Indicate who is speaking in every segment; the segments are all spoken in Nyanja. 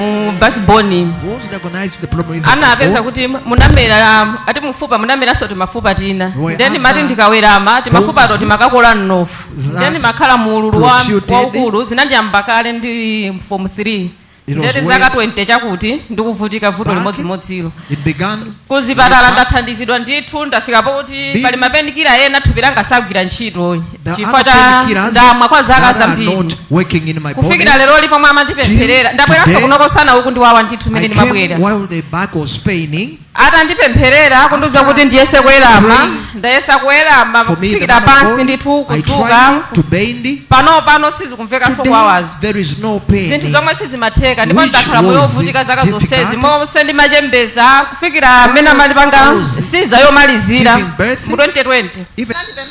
Speaker 1: mu backbone Once they recognize the problem in the anapeza kuti bone, munamera um, ati mufupa munameranso timafupa tina there ndiye ndimati are other ndikawerama timafupato bones timakakola mnofu that ndiye ndimakhala mu ululu wa- protruded. waukulu zinandiyamba kale ndi form 3 It was ndiye kuti zaka way- 20 chakuti ndikuvutika vuto Back. limodzimodzilo it began. kuzipatala ndathandizidwa ndithu ndafika poti Be- pali mapenikira ena thupi langa sagwira ntchito There are Chifukwa other cha painkillers ndamwa kwa zaka that are zambiri. not working in my body. kufikira lero li pomwe amandipempherera Till ndabweranso today, kuno nsana ukundiwawa ndithu I mmene came ndimabwera while the back was paining. atandipempherera kundiuza After kuti ndiyese kuwerama praying ndayesa kuwerama For me, the kufikira man of pansi God, ndithu I kudzuka tried to bend. panopa sizikumvekanso Today, kuwawazo there is no pain. zinthu zomwe sizimatheka ndipo Which ndakhala moyo was wovutika zaka difficult. zonsezi monse ndimachembeza kufikira mmene amandipanga was caesar yomalizira giving birth, mu 2020 Even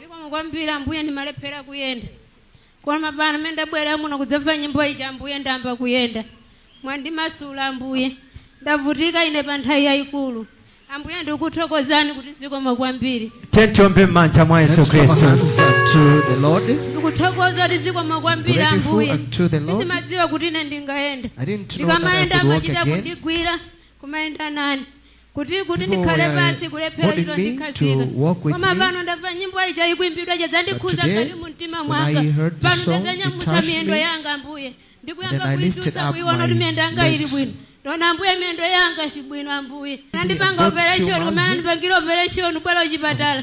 Speaker 1: zikomo kwambiri ambuye ndimalephera kuyenda koma pano pamene ndabwera muno kudzamva nyimbo ija ambuye ndayamba kuyenda mwandimasula ambuye ndavutika ine pa nthawi yayikulu ambuye ndikuthokozani kuti zikomo kwambiri tiyeni tiombe m'manja mwa yesu Let's clap our khristu hands unto the Lord. ndikuthokoza kuti zikomo kwambiri Grateful ambuye unto the Lord. sindimadziwa kuti ine ndingayende I didn't know that I ndikamayenda could walk amachita again. kundigwira kumayenda nane kuti kuti People ndikhale were pansi kulephera holding achita me to kundikhazika walk with koma me. pano ndamva nyimbo ija ikuimbidwa But yadzandikhudza today, mkati mu mtima when mwanga I heard the pano song, it ndadzanyamula touched miyendo me. yanga ambuye Then ndikuyamba I lifted kuidzutsa up kuiona kuti my miyendo yanga ili legs. bwino ndaona ambuye miyendo yanga ili bwino ambuye anandipanga God operation showers. kumene andipangira operation ku bwaila kuchipatala